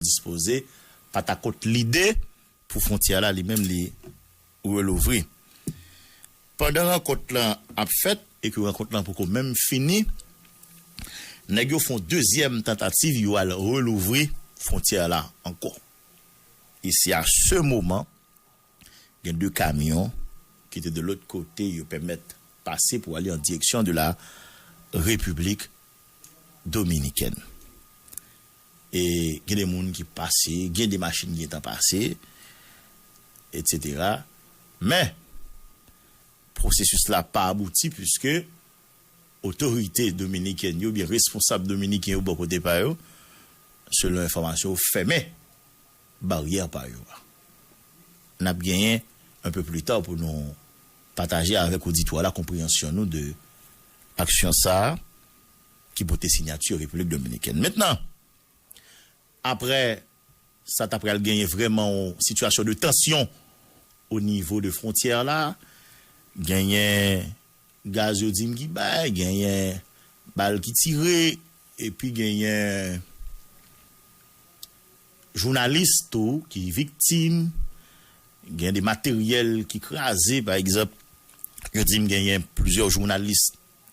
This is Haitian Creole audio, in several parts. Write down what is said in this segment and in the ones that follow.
dispoze pa ta kont lide pou fwontyè la li menm li relouvri. Pandan rankont lan ap fèt e ke rankont lan poko menm fini, nèg yo fon dezyèm tantativ yo al relouvri fwontyè la ankò. E se a se moman gen 2 kamyon ki te de lòt kote yo pèmèt pase pou ale an direksyon de la Repiblik Dominikèn. E gen de moun ki pase, gen de machin ki gentan pase, etsetera. Men, pwosesis la pa abouti puiske otorite dominikèn yo oubyen responsab dominiken yo bò kote pa yo, selon enfòmasyon yo, fèmen baryè pa yo a. N ap genyen un peu plus tard pou nou pataje avèk oditwa la konpreyansyon nou de aksyon sa a. ki pote sinyati Repiblik Dominikèn. Mentnan, aprè sa ta pral genyen vrèman yon sitiyasyon de tansyon o nivo de fwontyè la, genyen gaz yo di m ki bay, genyen bal ki tire, epi genyen jounalis tou ki viktim, gen de materyèl ki kraze, pa egzanp, yo di m genyen plizyè jounalis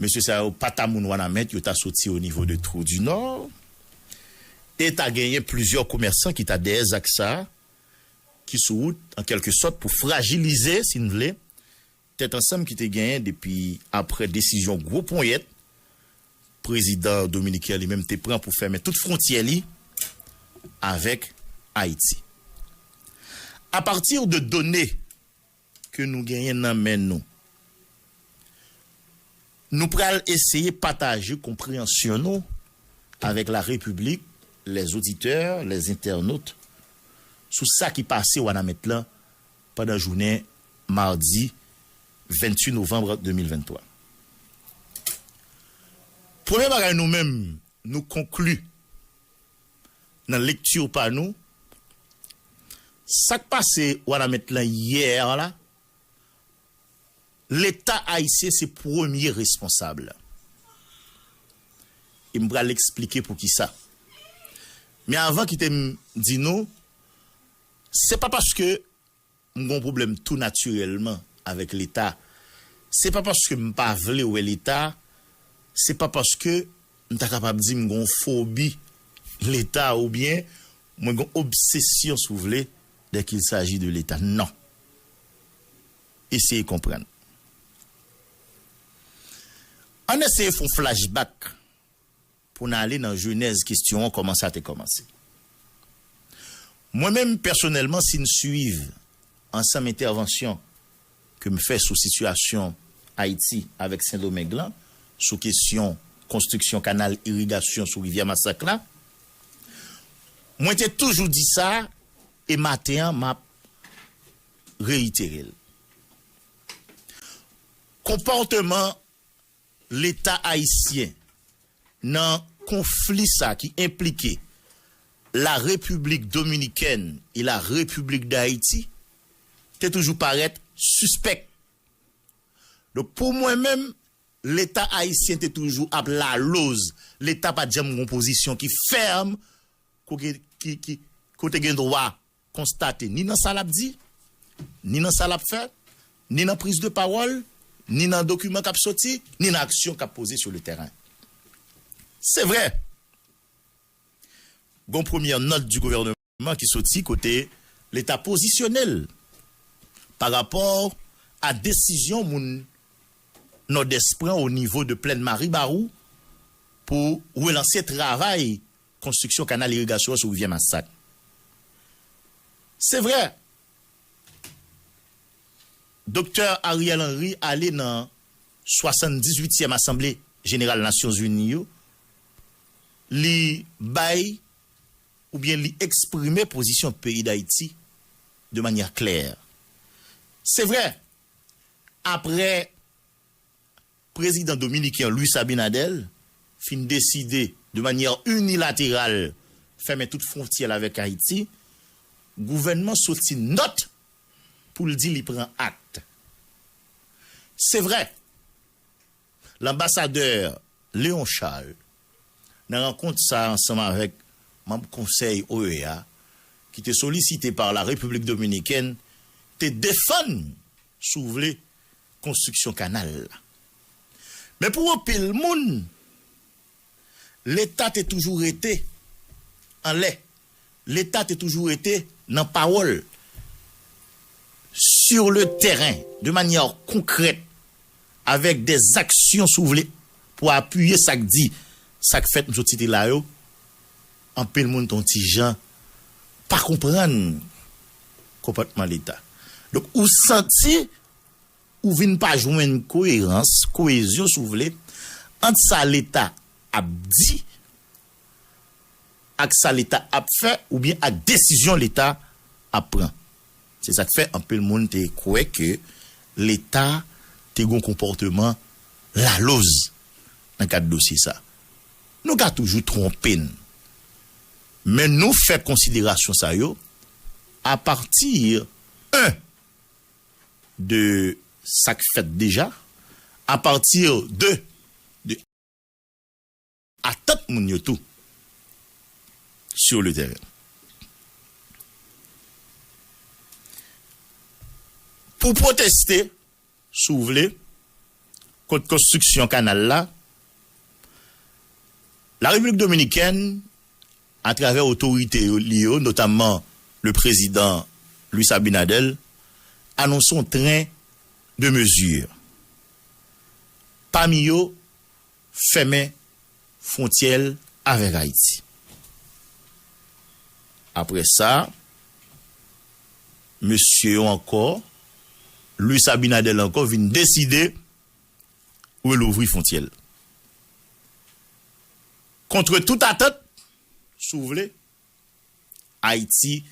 Mesye sa yo pa ta moun Wanament, yo ta soti o nivo de Trou du Nord. E ta genyen plizyè komèsan ki ta dèyè zak sa a, ki sou wout, an kèlke sòt, pou frajilize, si n vle, tèt ansanm ki te genyen depi apre desizyon gwo ponyèt prezidan dominiken an li menm te pran pou fèmen tout fwontyè li avèk Ayiti. Apati de done. ke nou genyen nan men nou. Nou pral eseye pataje konpreyansyon nou avèk la Repiblik, les auditeurs, les internautes, sou sa ki pase Wanament lan pandan jounen madi 28 novanb 2023. Premye bagay nou menm nou konkli. nan lecture pa nou sak pase wanament lan hier la leta ayisyen se premye responsab e m pral esplike poukisa men avan kite m di nou se pa paske M gon pwoblèm tou natirèlman avèk leta. Se pa paske m pa vle wè leta, se pa paske m ta kapab di m gon fobi leta oubyen mwen gon obsesyon si w vle dè kil saji de leta nan. Eseye konprann. Ann eseye fon flashback. Pou n ale nan jenèz kestyon an, kòman sa te kòmanse? Mwen menm pèsonèlman, si n suiv ansanm entèvansyon ke m fè sou sitiyasyon Ayiti avèk Sendomeng lan, sou kestyon konstriksyon kanal irigasyon sou rivyè Masak la, mwen te toujou di sa e maten an m ap reyitere l. Konpòteman. Leta ayisyen nan konfli sa ki enplike La Repiblik Dominikèn e La Repiblik Dayiti te toujou parèt sispèk. Donk pou mwen menm, Leta ayisyen te toujou ap laloz. Leta pa t janm gen yon pozisyon ki fèm kote gen dwa konstate ni nan sa lap di, ni nan sa lap fè, ni nan priz de pawòl, ni nan dokiman kap soti, ni nan aksyon kap poze sou le tèren. Se vre, gon premyè nòt di gouvèneman ki soti kote leta pozisyone l pa rapò a desizyon moun Nòdès pran o nivo de plèn Maribarou pou relanse travay konstriksyon kanal irigasyon an sou rivyè Masak. Se vre, Doktè Ariel Henry ale nan 78 tièm asanble jeneral Nasyon Zini yo, li bay oubyen li eksprime pozisyon peyi Dayiti de manyè klè. Se vre, apre Prezidan dominiken Luis Abinader fin deside de manyè inilateral fèmen tout fwontyè l avèk Ayiti, gouvènman soti nòt pou l di li pran akt. Se vre, l anbasadè Léon Charles nan rankont sa ansanm avèk manb konsèy OEA ki te solisite par la République dominicaine te defann, si w vle, konstriksyon kanal la. Men pou anpil moun, Leta te toujou rete anlè, Leta te toujou rete nan pawòl. Sur le terrain, de manyè konkrèt, avèk dè zaksyon si w vle pou apiye sa k di, sa k fèt m sot site la yo, anpil moun te yon ti jan pa konprann konpòtman Leta. Donk ou santi Ou vin pa jwenn koyerans, koyezyon si w vle, ant sa Leta ap di ak sa Leta ap fè oubyen ak desizyon Leta ap pran. Se sa k fè anpil moun te kwè ke Leta te gen yon konpòteman laloz nan kad dosye sa. Nou ka toujou twonpe n, men nou fè konsiderasyon sa yo apati, 1. de sa k fèt deja, a pati de de atant moun yo tou sur le terrain. Pou pwoteste, si w vle, kont konstriksyon kanal la, La Repiblik Dominikèn atravè otorite li yo, notamman le prezidan Luis Abinader, anonse yon tren de mezi, pami yo fèmen fwontyè l avèk Ayiti. Apre sa, mesye yo ankò, Luis Abinader ankò vin deside relouvri fwontyè l. Kontre tout atant, si w vle, Ayiti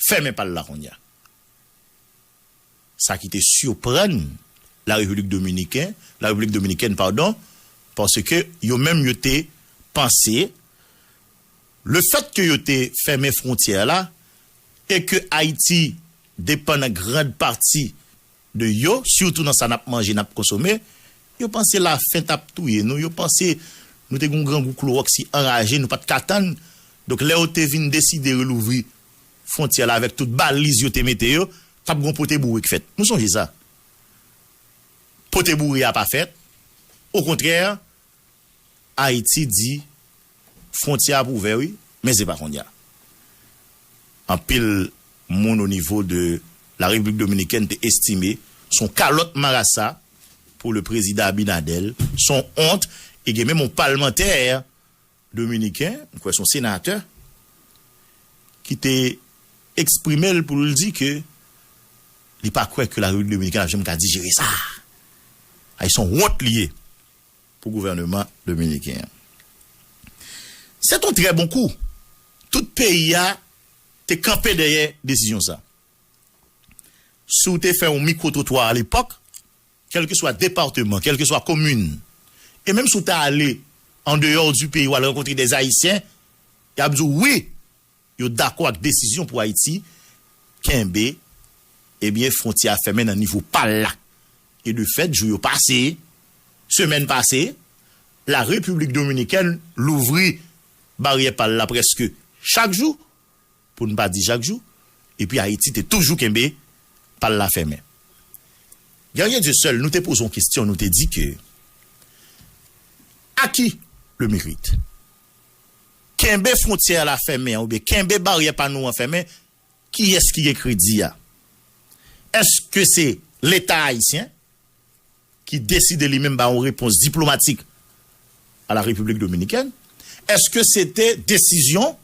fèmen pa l la kounye a. Sa ki te siprann La Repiblik Dominiken, La Repiblik Dominikèn padon, paske yo menm yo te panse le fèt ke yo te fèmen fwontyè la e ke Ayiti depann an grand pati de yo sitou nan sa nap manje nap konsome yo panse la fen tap touye nou yo panse nou te gen yon grangou kloroxy anraje nou pat ka tann donk lè yo te vin deside relouvri fwontyè la avèk tout baliz yo te mete yo tap gen yon pote boure k fèt nou sonje sa pote boure a pa fèt okontrè Ayiti di fwontyè ap ouvè wi men se pa konnya. Anpil moun o nivo de la Repiblik Dominikèn te estime se yon kalòt marasa pou le prezidan Abinadèl, se yon ont e gen menm yon palmantè dominiken, m kwè se yon senatè, ki te eksprime l pou l di ke li pa kwè ke la Repiblik Dominikèn ap janm ka dijere sa. Ay se yon wont li ye. Pou gouvèneman dominiken an. Sèt yon trè bon kou. Tout peyi a te kanpe dèyè desizyon sa. Si w te fè yon mikwotwotwa alepòk, kèlkeswa departeman, kèlkeswa komin, e menm si w ta ale andeyò di peyi w al rankontre dè Ayisyen, y ap di w wi, Yo dakò ak desizyon pou Ayiti kenbe ebyen fwontyè a fèmen nan nivo pa l la. E de fèt jou yo pase, semèn pase, la Repiblik Dominikèn louvri baryè pa l la prèske chak jou, pou n pa di jak jou, epi Ayiti te toujou kenbe pa l la fèmen. Guerrier Dieuseul, nou te poze yon kestyon, nou te di ke à qui le mérite? Kenbe fwontyè a la fèmen an oubyen kenbe baryè pa nou an fèmen, kiyès ki gen kredi a? Èske se leta ayisyen ki deside li menm ba yon repons diplomatik a la Repiblik Dominikèn? Èske se te desizyon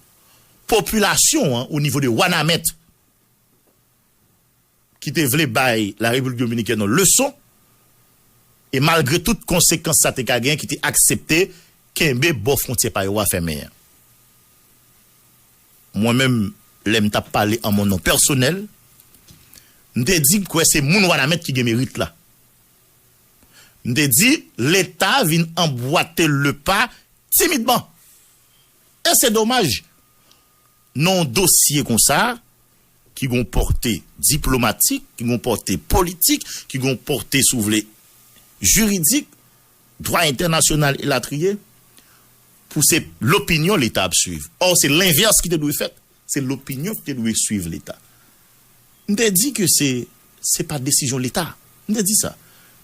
popilasyon an o nivo de Wanament? ki te vle bay la Repiblik Dominikèn yon leson e malgre tout konsekans sa te ka gen ki te aksepte kenbe bò fwontyè pa yo a fèmen an. Mwen menm lè m t ap pale an mon non pèsonèl, m te di m kwè se moun Wanament ki gen merit la. M te di Leta vin anbwate le pa timidman e se domaj. Nan yon dosye konsa, ki gen yon pòte diplomatik, ki gen yon pòte politik, ki gen yon pòte, si w vle, jiridik, dwa entènasyonal elatriye, pou se lopinyon Leta ap suiv. Ò, se lenvès ki te dwe fèt. Se lopinyon ki te dwe suiv Leta. M te di ke se, se pa desizyon Leta. M te di sa.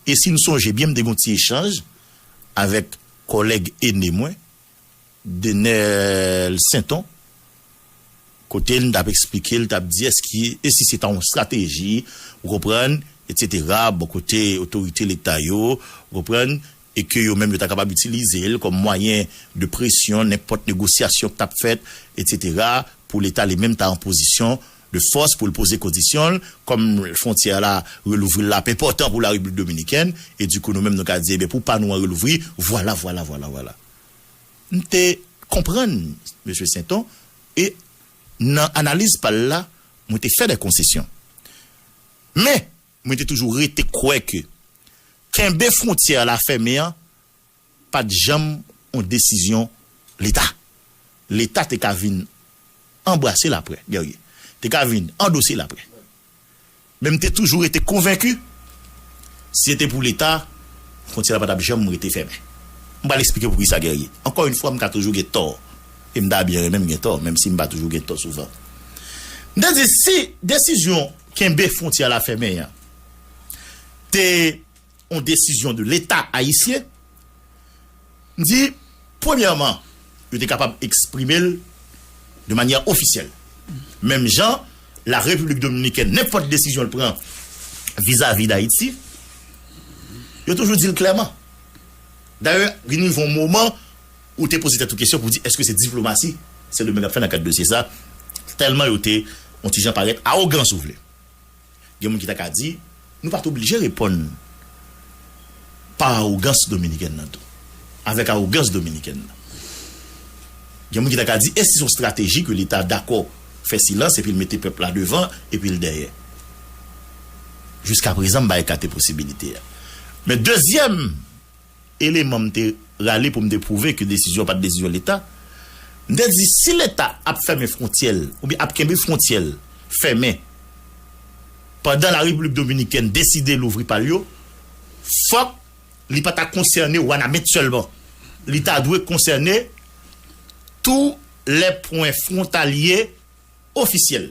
E si n sonje byen, m te gen yon ti echanj avèk kòlèg ene mwen, Denel Sainton kote l m t ap esplike l t ap di èske e si se ta yon estrateji ou konprann etsetera bò kote otorite leta yo ou konprann e ke yo menm yo ta kapab itilize l kòm mwayen de presyon nenpòt negosyasyon k t ap fèt etsetera pou leta li menm ta an pozisyon de fòs pou l poze kondisyon l kòm fwontyè la relouvri l la ap enpòtan pou larepiblik dominikèn e dikou nou menm nou ka di ebyen pou pa nou an relouvri vwala vwala vwala vwala. M te konprann Mesye Senton e nan analiz pa l la, mwen te fè dè konsesyon. Men, mwen te toujou rete kwè ke kenbe fwontyè a la fèmen an pa t janm yon desizyon Leta. Leta te ka vin anbrase l aprè, Guerrier te ka vin andose l aprè. Men m te toujou rete konvenki, si se te pou Leta, fwontyè la pa t ap janm rete fèmen. M pral esplike pou ki sa Guerrier. Ankò yon fwa m ka toujou gen tò, e m ta byen renmen m gen tò, menm si m pa toujou gen tò souvan. M te di si desizyon kenbe fwontyè la fèmen an te. yon desizyon de leta ayisyen, m di premyèman yo te kapab eksprime l de manyè ofisyèl menm jan la Repiblik Dominikèn nenpòt desizyon l pran vizavi Dayiti yo toujou di l klèman dayè vin rive yon moman ou te poze tèt ou kesyon pou di èske se diplomasi Sendomeng ap fè nan kad dosye sa tèlman yo te yon ti jan parèt awogan si w vle. Gen moun ki ta ka di, nou pa t oblije reponn pa awogans Dominiken nan tou, avèk awogans Dominiken nan. Gen moun ki ta ka di, èske se yon estrateji ke Leta dakò fè silans epi l mete pèp la devan epi l dèyè? Jiskaprezan m pa ekate posibilite a. Men dezyèm. eleman m te rale pou m te pwouve ke desizyon an pa t desizyon Leta. M te di si Leta ap fèmen fwontyè l oubyen ap kenbe fwontyè l fèmen pandan la Repiblik Dominikèn deside louvri pa l yo, fòk li pa ta konsène Wanament sèlman. Li ta dwe konsène tou lè pwen fwontalye ofisyèl.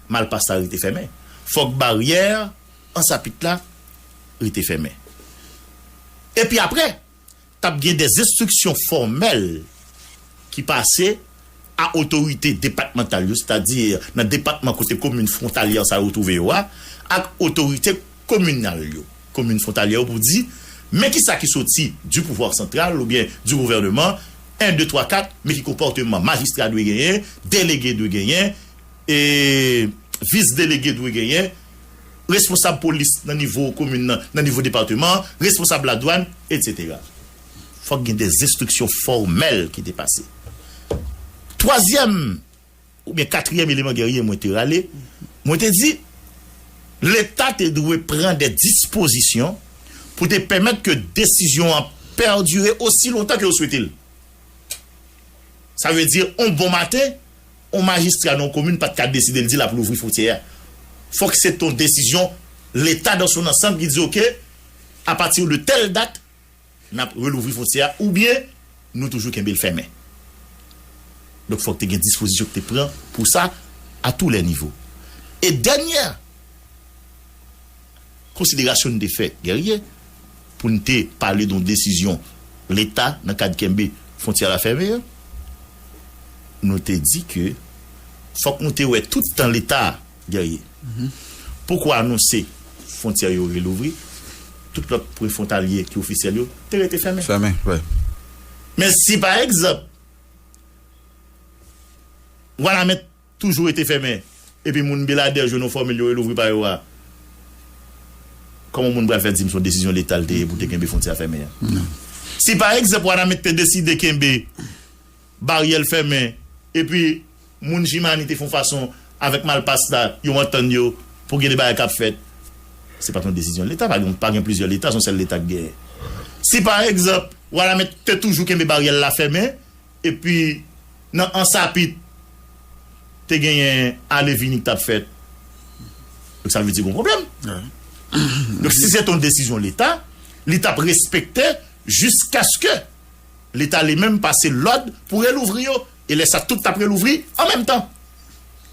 Malpas la rete fèmen. Fòk baryè Ansapit la rete fèmen. Epi apre, t ap gen de enstriksyon fòmèl ki pase a otorite depatmantal yo, sètadi nan depatman kote komin fwontalyè sa yo twouve yo a, ak otorite kominal yo, komin fwontalyè yo pou di, men kisa ki soti di pouvwa santral oubyen di gouvèneman, 1, 2, 3, 4, men ki konpòteman majistra dwe genyen, delege dwe genyen, E Vis delege dwe genyen, responsab polis nan nivo komin nan, nan nivo depateman an, responsab ladwann, etsetera. Fòk gen dè enstriksyon fòmèl ki te pase. Twazyèm oubyen katriyèm eleman Guerrier mwen te rale, mwen te di Leta te dwe pran dè dispozisyon pou te pèmèt ke desizyon an pèdire osi lontan ke yo swete l. Sa vle di on bon maten. On majistra nan yon komin pa t ka deside l di l ap louvri fwontyè a. Fòk se t on desizyon Leta dan son ansanm ki di oke apati de tèl dat n ap relouvri fwontyè a oubyen nou toujou kenbe l fèmen. Donk fòk te gen dispozisyon ki te pran pou sa a tou lè nivo. E dènyè. Konsiderasyon n te fè, Guerrier, pou n te pale de yon desizyon Leta nan kad kenbe fwontyè la fèmen an, nou te di ke fòk nou te wè tout tan Leta a, Guerrier, poko anonse fwontyè yo relouvri, tout lòt pwen fwontalye ki ofisyèl yo te rete fèmen. Men si pa egzanp Wanament. toujou rete fèmen epi moun Beladè jwenn yon fòmil yo relouvri pa yo a kòman moun pral fè di m son desizyon leta l te ye pou te kenbe fwontyè a fèmen an si pa egzanp Wanament te deside kenbe baryè l fèmen epi moun Jimani te fon fason avèk Malpas la yo antann yo pou gen de bagay kap fèt se pat yon desizyon leta pa gen pa gen plizyè leta son sèl leta k genyen si pa egzanp Wanament te toujou kenbe baryè l la fèmen Epi, nan Ansapit, te genyen ale vini ki t ap fèt. Donk, sa vle di gen yon pwoblèm. Donk, si se te yon desizyon Leta, li t ap respekte jiskaske Leta li menm pase lòd pou relouvri yo. E lè sa, tout t ap relouvri an menm tan.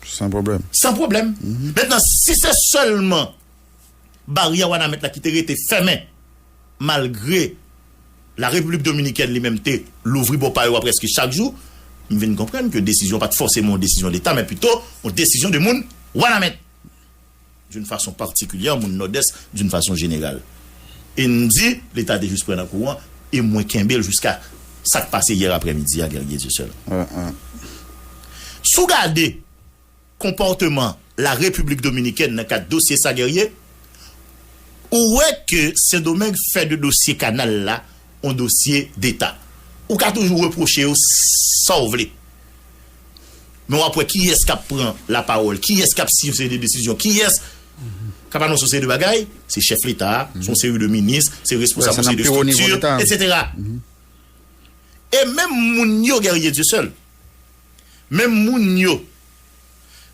San pwoblèm. San pwoblèm. Mentnan, si se sèlman baryè Wanament la ki te rete fèmen. Malgre La Repiblik Dominikèn li menm te louvri bò pa yo a prèske chak jou, m vin konprann ke desizyon an pa t fòseman yon desizyon Leta, men pito yon desizyon de moun Wanament d'une façon particulière, moun Nòdès d'une façon générale. E n di Leta te jis pran nan kou an, e mwen kenbe l jiska sa k pase yè aprèmidi a, Guerrier Dieuseul. Si w gade. konpòteman la Repiblik Dominikèn nan kad dosye sa Guerrier, ou wè ke Sendomeng fè de dosye kanal la on dosye deta. Ou ka toujou repwoche yo sa w vle, men w ap wè kiyès k ap pran lapawòl, kiyès k ap siyen yon seri de desizyon, kiyès k ap anonse yon seri de bagay, se chèf leta a, se yon seri de minis, se responsab yon seri de estrikti, etsetera. E menm moun yo Guerrier Dieuseul. Menm moun yo,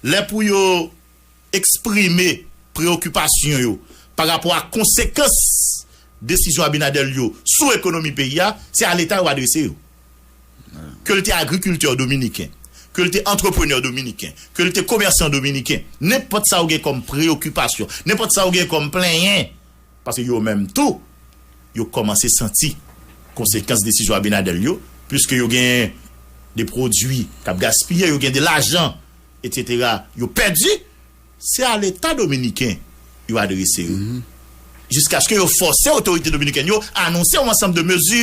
lè pou yo eksprime preyokipasyon yo pa rapò ak konsekans desizyon Abinader yo sou ekonomi peyi a, se a Leta yo adrese yo. Ke l te agrikiltè dominiken, ke l te antreprenè dominiken, ke l te komèsan dominiken, nenpòt sa ou gen kòm preyokipasyon, nenpòt sa ou gen kòm plenyen, Paske yo menm tou, yo kòmanse santi konsekans desizyon Abinadèl yo, puiske yo gen de pwodui k ap gaspiye, yo gen de lajan, etsetera, yo pèdi, se a leta dominiken yo adrese yo, jiskaske yo fòse otorite dominikèn yo anonse yon ansanm de mezi.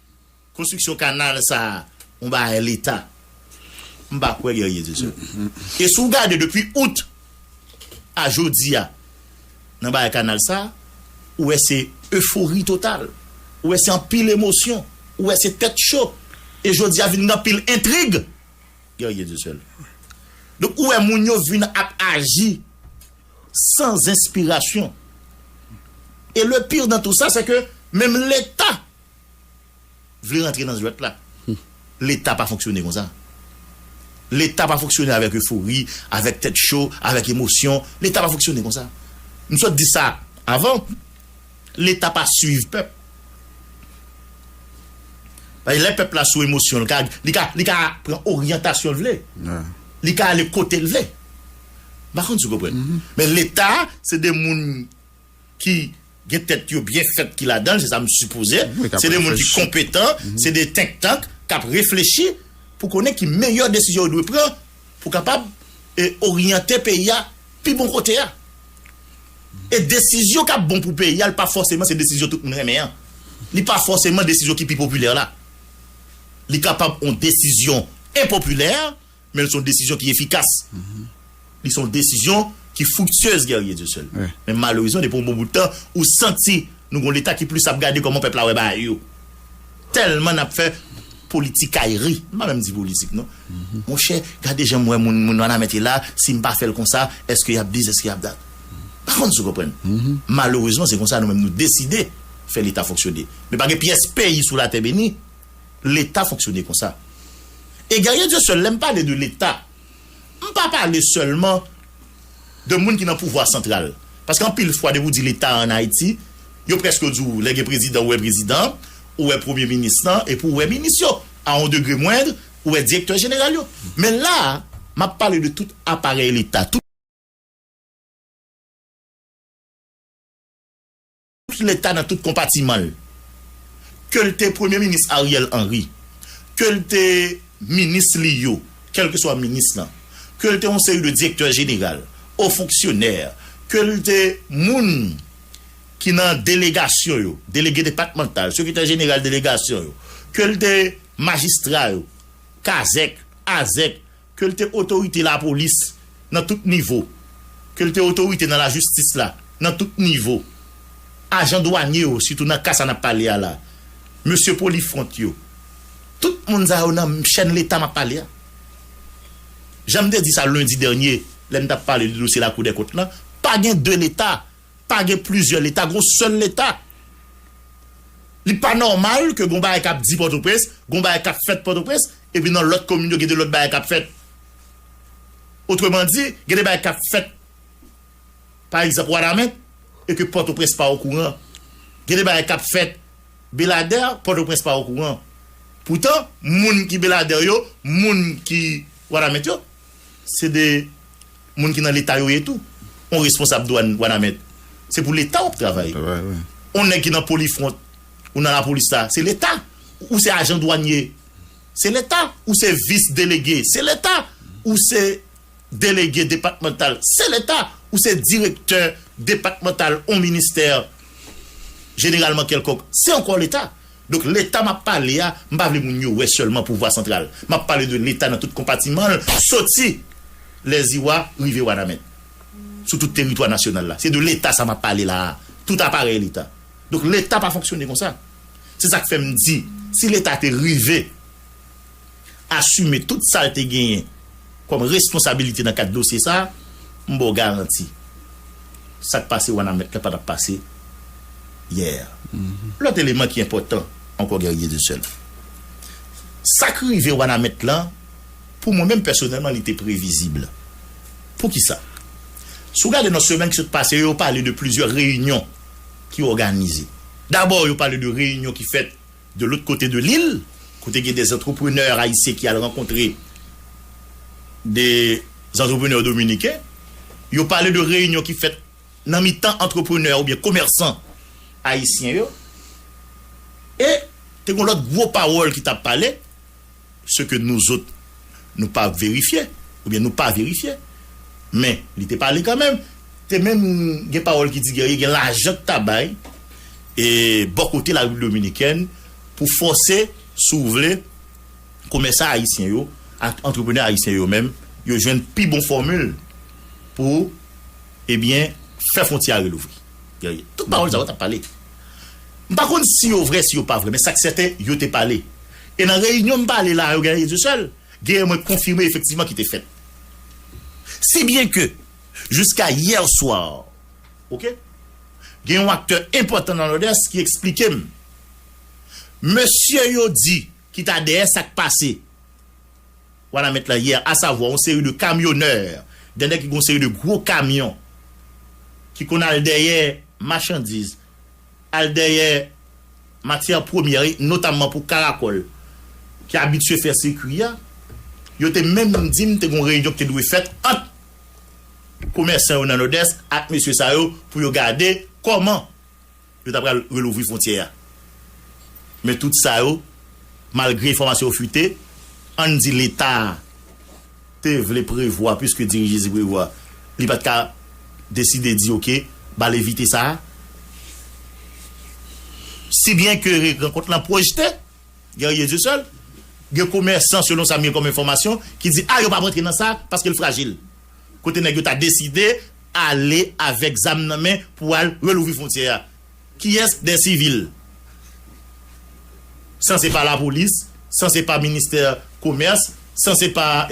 Konstriksyon kanal sa a yon bagay leta. M pa kwè Guerrier di sa. E si w gade depi Out a jodi a nan bagay kanal sa a, ou wè se efori total, ou wè se anpil emosyon, ou wè se tèt cho e jodi a vin gen anpil entrig Guerrier di sa. Donk ou wè moun yo vin ap aji san enspirasyon. E le pire dans tout ça se ke menm leta Vle rantre nan jwèt la. Leta pa fonksyone konsa. Leta pa fonksyone avèk efori, avèk tèt cho, avèk emosyon. Leta pa fonksyone konsa. M sot di sa avan. Leta pa swiv pèp. Paske lè pèp la sou emosyon l ka, li ka, li ka pran oryantasyon l vle. Li ka ale kote l vle. M pa konn si w konprann. Men Leta se 2 moun. ki gen tèt yo byen fèt ki ladan l, se sa m sipoze, se de moun ki konpetan, se de think tank k ap reflechi pou konnen ki meyè desizyon yo dwe pran pou kapab oryante peyi a pi bon kote a. E desizyon k ap bon pou peyi a li pa fòseman se desizyon tout moun renmen an, li pa fòseman desizyon ki pi popilè la. Li kapab yon desizyon enpopilè. Men li se yon desizyon ki efikas. Li se yon desizyon ki friktyez Guerrier Dieuseul. Men malerezman depi yon bon bout tan ou santi nou gen yon leta ki plis ap gade kòman pèp la wè bagay yo. Tèlman nap fè politikayri. M pa menm di politik non. Monchè gade janm wè moun moun wanament ye la sim pa fèl konsa eske yap dis eske yap dat. M pa konn si w konprann. Malerezman se konsa nou menm nou deside fè leta fonksyone. Men pa gen pyès peyi sou latè beni. Leta fonksyone konsa. E Guerrier Dieu Seul, lè m pale de Leta, m pa pale sèlman de moun ki nan pouvwa santral. Paske anpil fwa depi w di Leta an Ayiti, yo prèske di w lè gen prezidan ou wè prezidan an, ou wè premye minis lan epi ou wè minis yo, a on degre mwendr, ou wè direktè jeneral yo. Men la a, m ap pale de tout aparèy Leta, tout. Tout leta nan tout konpatiman l. Ke l te Premye Minis Ariel Henry, ke l te minis li yo, kèlkeswa minis lan, ke l te yon seri de direktè jeneral, o fonksyonè, ke l te moun ki nan delegasyon yo, delege depatmantal, sekretè jeneral delegasyon yo, ke l te majistra yo, kazèk, azèk, ke l te otorite lapolis nan tout nivo, ke l te otorite nan lajistis la nan tout nivo, ajan dwanye yo, sitou nan ka sa n ap pale a la, mesye polifwont yo, tout moun sa yo nan chèn Leta m ap pale a. Jan m te di sa lendi dènye lè n t ap pale de dosye Lakoudèkont lan, pa gen de Leta. Pa gen plizyè leta, gon sèl leta. Li pa nòmal ke gon bagay kap di Pòtoprens, gon bagay kap fèt Pòtoprens, epi nan lòt komin yo gen de lòt bagay kap fèt. Otreman di, gen de bagay kap fèt, pa egzanp Wanament, e ke Pòtoprens pa okouran. Gen de bagay kap fèt Beladè, Pòtoprens pa okouran. Poutan, moun ki Beladè yo, moun ki Wanament yo, Se de Moun ki nan leta yo ye tou on responsab dwann wanament se pou leta wap travay on nèg ki nan polifront ou nan lapolis la se leta ou se ajan dwanye se leta ou se vis delege se leta ou se delege depatmantal se leta ou se direktè depatmantal on ministè jeneralman kèlkonk se ankò leta. Donk leta map pale a, m pa vle moun yo wè sèlman pouvwa santral. Map pale de leta nan tout konpatiman l, soti Lèziwa rive Wanament. Sou tout teritwa nasyonal la. Se de leta sa map pale la a. Tout aparèy leta. Donk leta pa fonksyone konsa. Se sak fè m di, si leta te rive. asime tout sa l te genyen kòm responsabilite nan kad dosye sa a, m ba w garanti, sa k pase Wanament la pa t ap pase yè a. Lòt eleman ki enpòtan ankò Guerrier de Seul, sa k rive Wanament la, pou mwen menm pèsonèlman li te previzib. Poukisa? Si w gade nan semèn ki sot pase yo, yo pale de plizyè reyinyon ki òganize. Dabò yo pale de reyinyon ki fèt. De lôt kote de lil, kote gen de zantreprenè ayisyen ki al rankontre de zantreprenè dominiken, yo pale de reyinyon ki fèt nan mitan antreprenè oubyen komèsan ayisyen yo. E te gen lôt gwo pawôl ki t ap pale. se ke nou zot nou pa verifye ou byen nou pa verifye men li te pale kanmenm te menm gen pawòl ki di Guerrier gen lajan k ta bay e bò kote la Repiblik Dominikèn pou fòse si w vle komèsan ayisyen yo ak antreprenè ayisyen yo menm yo jwenn pi bon fòmil pou e byen fè fwontyè a relouvri Guerrier tout pawòl sa yo t ap pale m pa konn si yo vrè si yo pa vrè men sa k sèten yo te pale. E nan reyinyon m pale la a yo gen Yezu sèl, genyen mwen konfime efektivman ki te fèt. Si byen ke, jiska yè swa, ok, gen yon aktè enpòtan nan Nòdès ki eksplike m, mesye yo di ki ta dèyè sa k pase Wanament la yè, asavwa yon seri de kamyonè, de nèg ki gen yon seri de gwo kamyon ki konn al dèyè machandiz, al dèyè matyè premyè e notamman pou karakòl ki abitye fè sikui a, yo te menm di m te gen yon reyinyon ki te dwe fèt ant komèsan yo nan Nòdès ak mesye sa yo pou yo gade kòman yo ta pral relouvri fwontyè a. Men tout sa yo, malgre enfòmasyon yo fwite, ann di Leta a, te vle prevwa puiske diri Jezi prevwa li pat ka deside di ok bal evite sa si byen ke rankont lan pwojte Guerrier Dieu seul gen komèsan selon sa m gen kòm enfòmasyon ki di a yo pap rantre nan sa paske l frajil kote nèg yo ta deside ale avèk zam nan men pou al relouvri fwontyè a. Kiyès dè sivil? San se pa lapolis, san se pa ministè komès, san se pa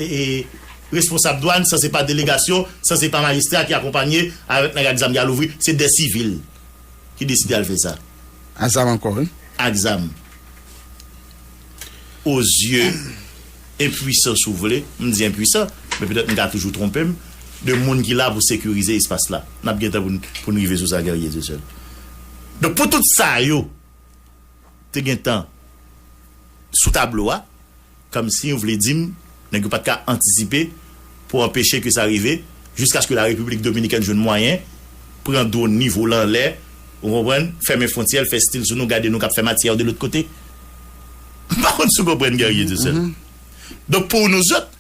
responsab dwann, san se pa delegasyon, san se pa majistra ki akonpanye avèk nèg ak zam ki al ouvri, se dè sivil ki deside al fè sa. A zam ankò wi. Ak zam. o zye enpwisan si w vle, m di enpwisan, men petèt m ka toujou twonpe m, de moun ki la pou sekirize espas la. N ap gen tan pou n rive sou sa Guerrier Dieuseul. Donk pou tout sa yo te gen tan sou tablo a, kòmsi w vle di m, Nèg yo pat ka antisipe pou anpeche ke sa rive jiskaske la Repiblik Dominikèn jwenn mwayen pran dwon ni vole anlè, ou konprann, fèmen fwontyè l, fè stil sou nou, gade nou k ap fè matyè de lòt kote. M pa konn si w konprann Guerrier Dieuseul. Donk pou nouzòt,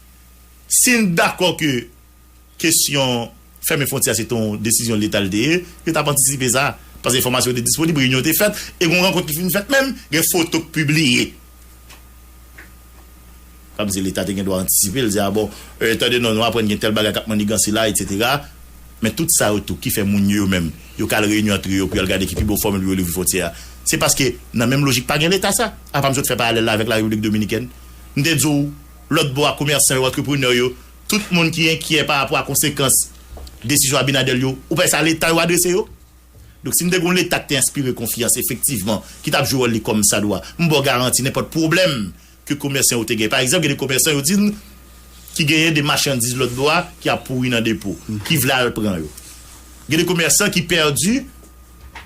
si n dakò ke Kesyon fèmen fwontyè a se te yon desizyon leta li te ye. Yo t ap antisipe sa paske enfòmasyon yo te disponib, reyinyon yo te fèt e gen yon rankont ki fin fèt menm, gen foto k pibliye. N ap di leta te gen dwa antisipe l, di a bon, tande non, nou aprann gen tèl bagay k ap manniganse la etsetera. Men tout sa yo tou ki fè moun yo yo menm yo ka al reyinyon antre yo pou y al gade ki pi bon fòmil pou yo louvri fwontyè a se paske nan menm lojik pa gen leta sa. Apa m sot fè paralèl la avèk Larepiblik Dominikèn. M te di w lòt bò a komèsan yo, antreprenè yo Tout moun ki enkyè pa rapò a konsekans desizyon Abinader yo, ou pa wè se a leta yo adrese yo? Donk si nou te gen yon leta ki te enspire konfyans efektivman, ki tap jwe wòl li kòm sa dwa, m ba w garanti nenpòt pwoblèm ke komèsan yo te gen. Pa egzanp gen de komèsan yo di n ki genyen de machandiz lòt bò a ki ap pouri nan depo, ki vle al pran yo. Gen de komèsan ki pèdi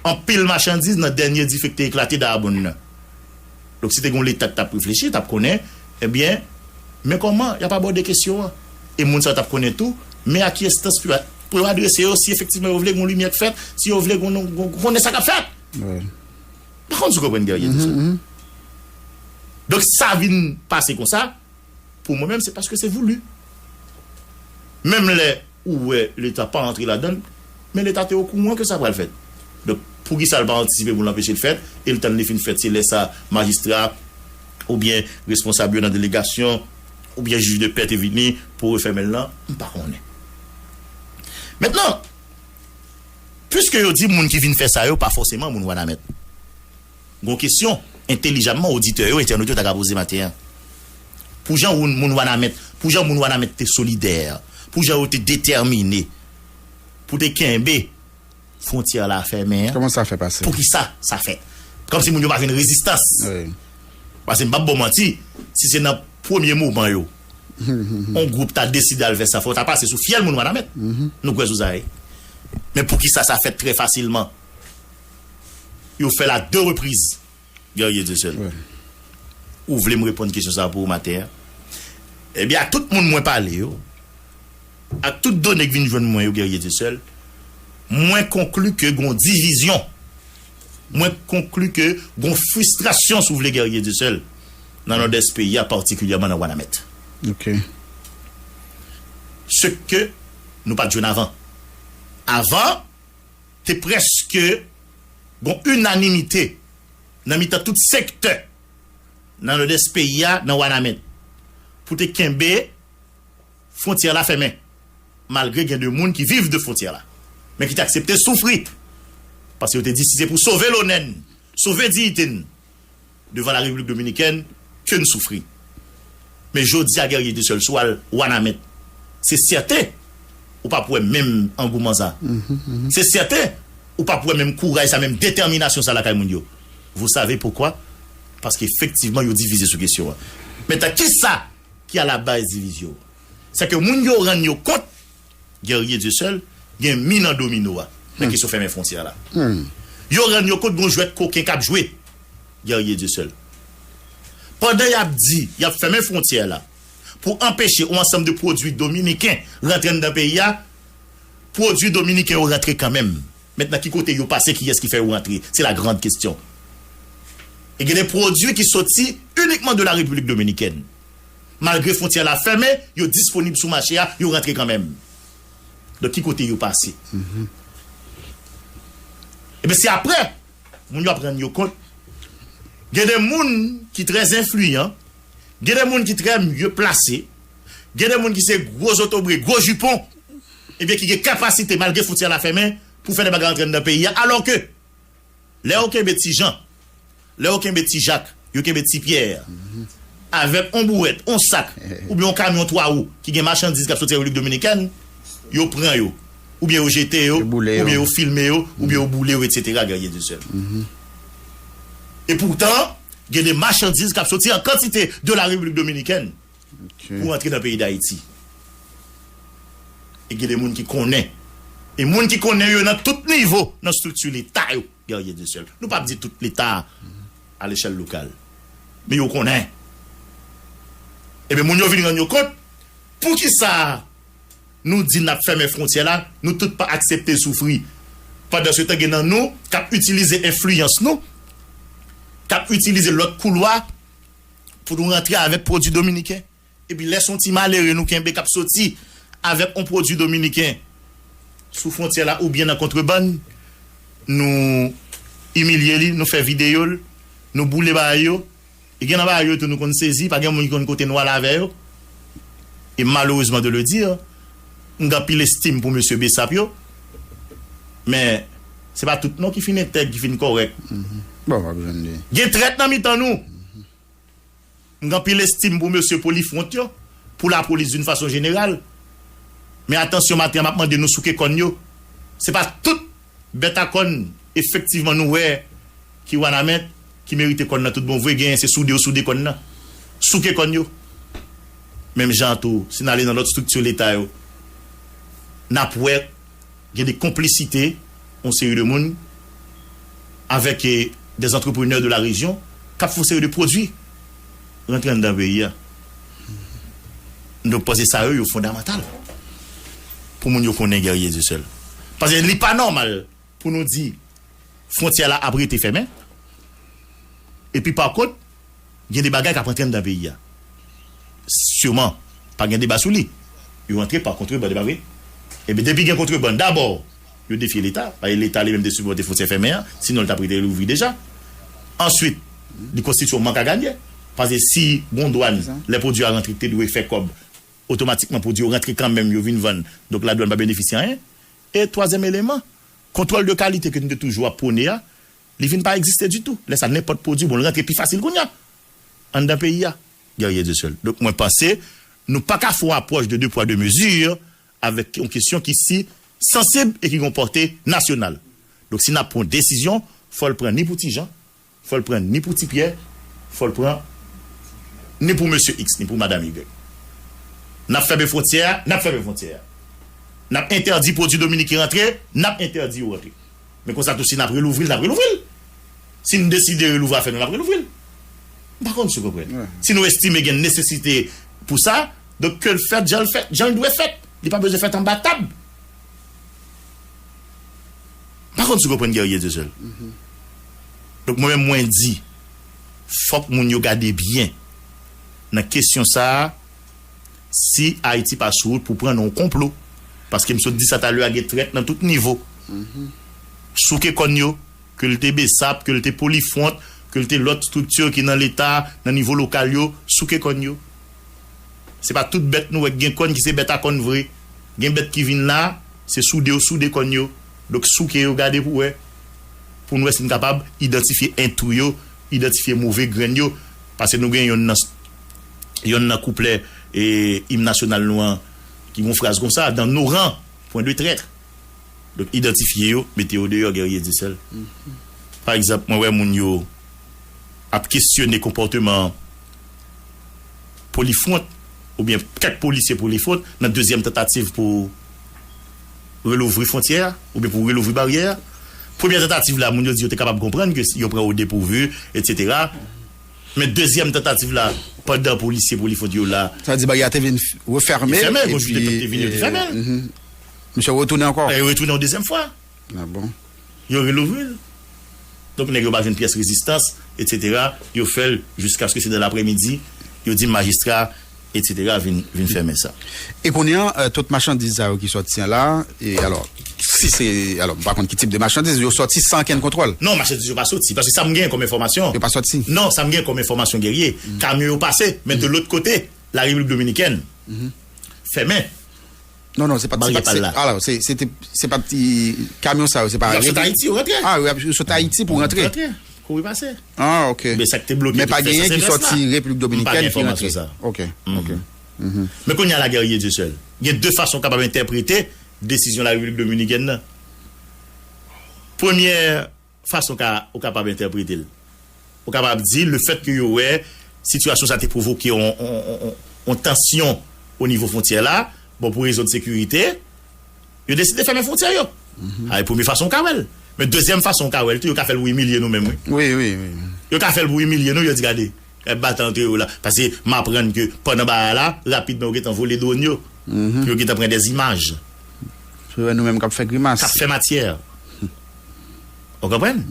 anpil machandiz nan dènye dife ki te eklate Darbonne nan. Donk si te gen yon leta ki t ap reflechi, li t ap konnen, ebyen, men kòman y ap abòde kesyon an. E moun sa yo t ap konnen tou, men a ki enstans pou yo pou yo adrese yo si efektivman yo vle gen yon limyè k fèt, si yo vle gen yon konnen sa k ap fèt. M pa konn si w konprann Guerrier di sa. Donk si sa vin pase konsa, pou mwen menm se paske se voulu. Menm lè. Ou wè leta pa antre ladann, men leta te okouran ke sa pral fèt. Donk, poukisa l pa antisipe pou l anpeche l fèt, e l tann li fin fèt, se lè sa majistra a oubyen responsab yo nan delegasyon oubyen jij de pè te vini pou refèmen l lan? M pa konnen. Mentnan, piske yo di moun ki vin fè sa yo pa fòseman moun Wanament. Gon kesyon, entelijamman, oditè yo, entènot yo ta ka poze maten an. Pou jan woun moun Wanament, pou jan moun Wanament te solidè, pou jan yo te detèmine pou te kenbe fwontyè la fèmen an, Kòman sa fè pase? pou ki sa sa fèt? Kòm si moun yo pa vin rezistans. Wi. Pase m p ap ba w manti, si se nan premye moman yo, yon gwoup ta deside al fè sa, fò w ta pase sou fyèl moun Wanament. Nou kwè sou sa wi. Men pou ki sa sa fèt trè fasilman? Yo fèl a 2 repriz. Guerrier Dieuseul ou vle m reponn kesyon sa pou ou maten an? Ebyen a tout moun mwen pale yo, ak tout done k vin jwenn mwen yo Guerrier Dieuseul, mwen konkli ke gon divizyon, mwen konkli ke gon fristrasyon si w vle Guerrier Dieuseul nan Nòdès peyi a patikilyèman nan Wanament. Ce ke nou pat jwenn avan. Avan. te prèske gon inanimite nan mitan tout sektè nan Nòdès peyi a, nan Wanament, pou te kenbe fwontyè la fèmen, malgre gen de moun ki viv de fwontyè la, men ki te aksepte soufri, paske yo te di si se pou sove lonè n, sove diyite n. Devan la repiblik dominikèn ke n soufri. Men jodi a Guerrier Dessoeul si w al Wanament se sèten ou pap wè menm angouman sa. Se sèten ou pap wè menm kouraj sa, menm detèminasyon sa lakay moun yo. Vous savez pourquoi? Paske efektivman yo divize sou kesyon an. Mentan kisa ki alabaz divizyon? Sè ke moun yo rann yo kont. Guerrier Dieu seul gen min nan domino a nan kesyon fèmen fwontyè la. Yo rann yo kont gon jwèt koken k ap jwe. Guerrier Dieu seul pandan y ap di y ap fèmen fwontyè la pou anpeche on ansanm de pwodui dominiken rantre anndan peyi a, pwodui dominiken yo rantre kanmenm. Mentnan ki kote yo pase kiyès ki fè yo rantre? Se la grande question. E gen de pwodui ki soti inikman de la République Dominicaine. Malgre fwontyè la fèmen, yo disponib sou mache a, yo rantre kanmenm. Donk ki kote yo pase? Ebyen se aprè moun yo ap rann yo kont gen de moun ki trè enfliyan, gen de moun ki trè mye plase, gen de moun ki se gwo zotobre, gwo jipon, ebyen ki gen kapasite malgre fwontyè la fèmen pou fè de bagay antre anndan peyi a alò ke Lè yo kenbe ti Jan, lè yo kenbe ti Jak, yo kenbe ti Pyè avèk on bouwèt, on sak oubyen on kamyon twa wou ki gen machandiz k ap soti Repiblik Dominikèn, yo pran yo oubyen yo jete yo oubyen yo filme yo oubyen yo boule yo etsetera, Guerrier Dieuseul. Epoutan, gen de machandiz k ap soti an kantite de la Repiblik Dominikèn. Pou antre nan peyi dayiti e gen de moun ki konnen e moun ki konnen yo nan tout nivo nan strikti leta yo Guerrier Dieuseul nou pap di tout leta a lechèl lokal men yo konnen ebyen moun yo vin rann yo kont poukisa nou di nap fèmen fwontyè la nou tout pa aksepte soufri pandan se tan gen nan nou kap itilize enfliyans nou kap itilize lòt koulwa. pou nou rantre avèk pwodwi dominiken epi lè son ti malere nou kenbe kap soti avèk on pwodwi dominiken sou fwontyè la oubyen nan kontrebann nou imilye li nou fè videyo l nou boule bagay yo e gen nan bagay yo tou nou konn sezi pa gen moun ki konn kote nou al avè yo e malerezman de le dire M gen anpil estim pou mesye Bsap yo, men se pa tout non ki fin entèg, ki fin kòrèk. Gen trèt nan mitan nou. M gen anpil estim pou mesye polifwont yo, pou lapolis doun fason jeneral, men atansyon maten an m ap mande nou souke kòn yo, se pa tout. Bèt a kòn efektivman nou wè ki wanament ki merite kòn nan tout bon vre genyen se soude yo soude kòn nan souke kòn yo menm jan an tou si n ale nan lòt strikti leta yo n ap wè gen de konplisite yon seri de moun avèk dè antreprenè de la rejyon k ap fè yon seri de pwodui. rantre anndan peyi a. Donk panse sa yo yo fondamantal pou moun yo konnen Guerrier Dieu seul. Paske li pa nòmal pou nou di fwontyè la ap rete fèmen epi pa kont gen de bagay k ap rantre anndan peyi a. Siman pa gen deba sou li. Yo rantre pa kontrebann e pa vre? Ebyen depi gen kontrebann dabò Yo defye leta, paske leta li menm te sipòte fontyè fèmen an, sinon li tap rete louvri deja. Answit, li konstitye yon mank a ganye, paske si gon dwàn, lè pwodwi a rantre ki te dwe fè kòb, otomatikman pwodwi yo rantre kanmenm yo vin vann, donk la dwàn pa benefisye anyen. E twazyèm eleman, kontwòl de kalite ke nou te toujou ap pwone a, li vin pa egziste ditou. Lè sa nenpòt pwodwi bon li rantre pi fasil kounya anndan peyi a. Guerrier Dieuseul, Donk mwen panse nou paka fè yon apwòch de 2 pwa 2 mezi avèk yon kesyon ki si sansib e ki gen yon pòte nasyonal. Donk si n ap pran yon desizyon, fò l pran ni pou ti Jan, fò l pran ni pou ti Pyè, fò l pran ni pou mesye iks, ni pou madam igrèk. N ap fèmen fwontyè a, n ap fèmen fwontyè a. N ap entèdi pwodui dominiken rantre, n ap entèdi yo rantre. Men konsa tou si n ap relouvri l, n ap relouvri l. Si n deside relouvri afè nou, n ap relouvri l. M pa konn si w konprann. Si nou estime gen nesesite pou sa. Donk ke l fèt jan l fèt, jan l dwe fèt. Li pa bezwen fèt anba tab. M pa konn si w konprann Guerrier Dieuseul. Donk mwen menm mwen di, fòk moun yo gade byen nan kesyon sa a si Ayiti pa sou wout pou pran nan yon konplo. Paske m sot di sa talè a gen trèt nan tout nivo. Souke kòn yo, ke l te Bsap, ke l te Polifwont, ke l te lòt estrikti ki nan Leta, nan nivo lokal yo, souke kòn yo. Se pa tout bèt nou wè ki gen kòn ki se bèt a kòn vre. Gen bèt ki vin la, se soude yo soude kòn yo. Donk souke yo gade pou wè, pou nou wè si nou kapab idantifye entou yo, idantifye move grenn yo. Pase nou gen yonn nan yonn nan kouplè im nasyonal nou an ki gen yon fraz kon sa, dans nos rangs, point de traître. Donk idantifye yo, mete yo deyò Guerrier Dieuseul. Pa egzanp mwen wè moun yo ap kesyone konpòteman. polifwont oubyen kèk polisye polifwont nan dezyèm tantativ pou relouvri fwontyè a oubyen pou relouvri baryè a. Premyè tantativ la moun yo di yo te kapab konprann ke yo pran odepourvu etsetera men dezyèm tantativ la pandan polisye polifwont yo la. Sa vle di baryè a te vin refèmen epi misye retounen ankò. Retounen yon dezyèm fwa. Ah bon? Yo relouvri l. Donk nèg yo pa jwenn pyès rezistans etsetera, yo fè l jiskaske se nan lapremidi yo di majistra etsetera vin vin fèmen sa. E kounye an tout machandiz sa yo ki sòti an la, e alò si se alò m pa konn ki tip de machandiz, yo sòti san ankenn kontwòl? Non machandiz yo pa sòti, paske sa m genyen kòm enfòmasyon, Yo pa sòti? non sa m genyen kòm enfòmasyon Guerrier, kamyon yo pase men de lòt kote la Repiblik Dominikèn fèmen. Non non se pat se pat se ala se se te se pat ti kamyon sa yo se pa yo sot ayiti yo rantre a yo sot ayiti pou rantre rantre kouri pase a ok men sak te bloke men pa genyen ki soti replik dominikèn ki rantre ok ok men kounye a la guerrier dieu seul gen de fason kapab entèprete desizyon la replik dominikèn nan premyè fason ka ou kapab entèprete l. Ou kapab di lefètke yo wè sitiyasyon sa te pwovoke yon tansyon onivo fwontyè la, bon pou rezon de sekirite, yo deside fèmen fwontyè yo. Sa e premye fason ou ka wè l. Men dezyèm fason ou ka wè l tou, yo ka fè l pou imilye nou menm wi. Yo ka fè l pou imilye nou, yo di gade, y ap batay antre yo la. Pase m aprann ke pandan bagay la, rapidman yo gentan vole dwòn yo, pou yo gentan pran dèzimaj. Pou yo wè nou menm k ap fè grimas. K ap fè matyè. Ou konprann?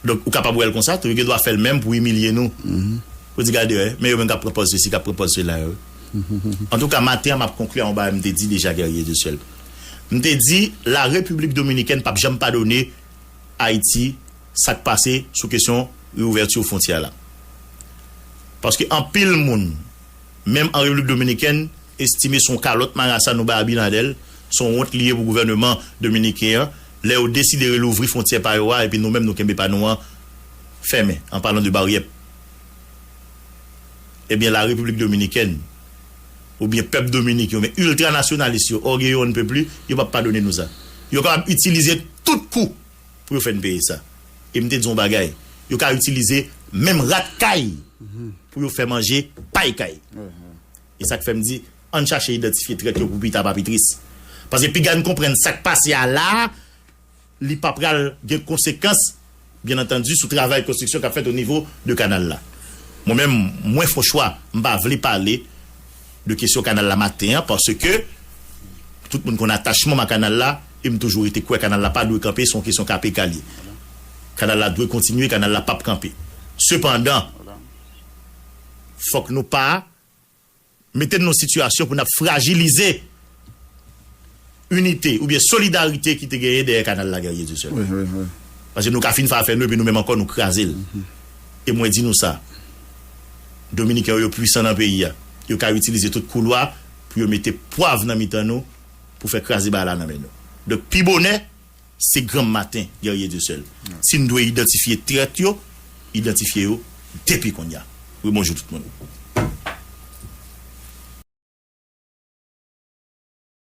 Donk, ou kapab wè l konsa tou. Yo gen dwa fè l menm pou imilye nou. Pou di gade wè, men yo menm k ap pran pòz sesi, k ap pran pòz sela yo. Antouka, maten an m ap konkli ak yon bagay m te di deja Guerrier de Ciel. M te di La Repiblik Dominikèn p ap janm padone Ayiti sa k pase sou kesyon reouvèti fwontyè la. Paske anpil moun. Menm an Repiblik Dominikèn estime son kalòt marasa nou bay Abinader, son wont li ye pou gouvèneman dominiken an lè yo deside relouvri fwontyè pa yo a epi nou menm nou kenbe pa nou an fèmen an palan de baryè ebyen la Repiblik Dominikèn oubyen pèp Dominik yo men ultra nasyonalis yo orgueilleux on ne peut plus yo pap padone nou sa yo kapab itilize tout kou pou yo fè n peye sa. E m te di w yon bagay, yo ka itilize menm rat kay pou yo fè manje pay kay. E sa k fè m di, an n chache idantifye trèt yo pou pita pa pi tris. Paske piga n konprann sa k pase a la a, li pa pral gen konsekans, byen antandi, sou travay konstriksyon k ap fèt onivo de kanal la. Mwen menm, mwen fon chwa, m pa vle pale. de kesyon kanal la maten an paske tout moun konn atachman m a kanal la e m toujou rete kwè kanal la pa dwe kanpe se yon kesyon ka pe ka li kanal la dwe kontinye kanal la pap kanpe sepandan fòk nou pa mete n nan yon sitiyasyon pou n ap frajilize. inite oubyen solidarite ki te genyen dèyè kanal la Guerrier Dieu seul la. Paske nou ka fin fè afè nou epi nou menm ankò nou kraze l. E mwen di nou sa, Dominiken yo yo pwisan nan peyi a. Yo ka itilize tout koulwa pou yo mete pwav nan mitan nou pou fè kraze bagay la nan men nou. Donk pi bonè, se granm maten Guerrier Dieu seul. Si n dwe idantifye trèt yo, idantifye yo depi konnya. Wi bonjou tout moun.